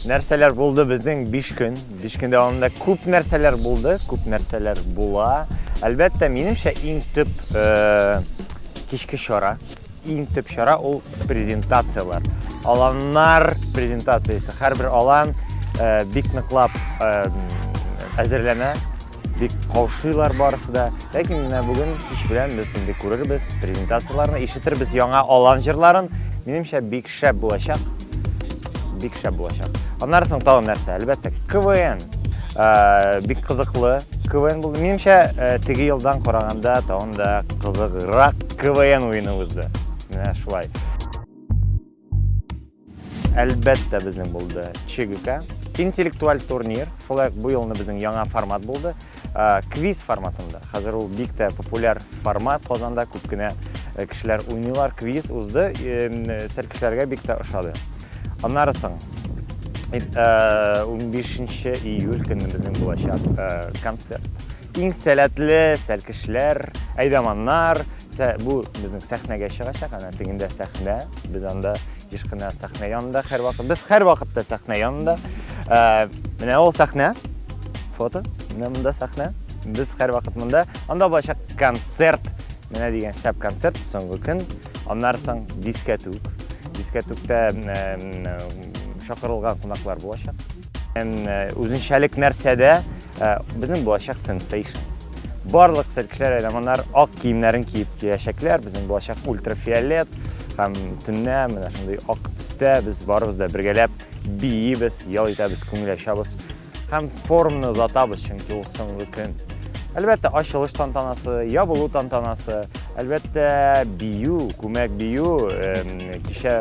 нәрсәләр булды безнең биш көн биш көн дәвамында күп нәрсәләр булды күп нәрсәләр була әлбәттә минемчә иң төп э, кичке чара иң төп чара ул презентацияләр аланнар презентациясе һәрбер алан э, бик ныклап э, әзерләнә Бик каушыйлар барысы да. Ләкин менә бүген кич белән без инде күрербез, презентацияләрне ишетербез, яңа алан җырларын. Минемчә, бик шәп булачак. Бик шәп булачак. Аннары соң тагын нәрсә? Әлбәттә, КВН. Ә, бик кызыклы КВН булды. Минемчә, ә, теге елдан караганда тагын да кызыграк КВН уены узды. Менә шулай. Әлбәттә безнең булды ЧГК. Интеллектуаль турнир, шулай бу елны безнең яңа формат булды. Э, квиз форматында. Хәзер ул бик тә популяр формат Казанда, күп кенә э, кешеләр уйныйлар. Квиз узды, сәл кешеләргә бик тә ошады. Аннары соң 15 э, июль көнне безнең булачак концерт. Иң сәләтле сәлкешләр, әйдаманнар, бу безнең сәхнәгә чыгачак, ана тегендә сәхнә, без анда еш кына сәхнә янында һәрвакыт, без һәрвакытта сәхнә янында. Ә, менә ул сәхнә, фото, менә монда сәхнә, без һәрвакыт монда. Анда булачак концерт, менә дигән шәп концерт, соңгы көн, аннары соң дискәтүк. Дискәтүктә шакырылган кунаклар булачак. Үзенчәлек нәрсәдә? Безнең булачак сенсейшн. Барлык циркләр әйләманнар ак киемнәрен киеп киләчәкләр. Безнең булачак ультрафиолет һәм төннә менә шундый ак төстә без барыбыз да бергәләп биибез, ял итәбез, күңел ачабыз һәм форумны озатабыз, чөнки ул соңгы көн. Әлбәттә, ачылыш тантанасы, ябылу тантанасы, әлбәттә, бию, күмәк бию, кичә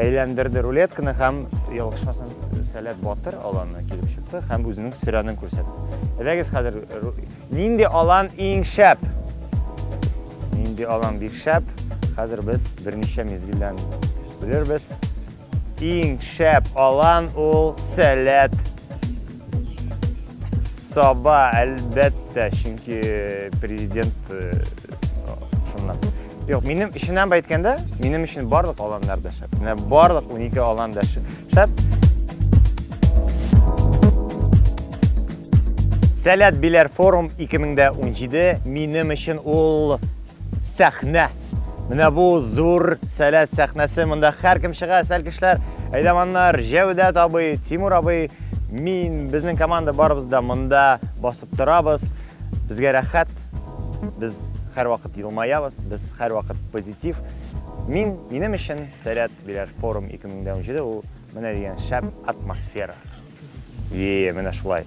Әйләндерде рулетканы һәм ялгышмасын сәләт батыр аланны килеп чыкты һәм үзенең сөрәнен күрсәтте. Әдәгез хәзер нинди алан иң шәп? Нинди алан бик шәп? Хәзер без берничә мизгелдән белербез. Иң шәп алан ул сәләт Саба, әлбәттә, чөнки президент э, шуннан. Юк, минем эшеннән әйткәндә, минем өчен барлык аланнар да шәп. Менә барлык 12 алан да шәп. Сәләт Биләр форум 2017 минем өчен ул сәхнә. Менә бу зур сәләт сәхнәсе. Монда һәркем чыга, сәлкешләр, әйдаманнар, Җәүдәт абый, Тимур абый, мин, безнең команда барыбыз да монда басып торабыз. Безгә рәхәт. Без һәрвакыт елмаябыз, без һәрвакыт позитив. Мин, минем өчен сәләт биләр форум 2017 ул менә дигән шәп атмосфера. Е, менә шулай.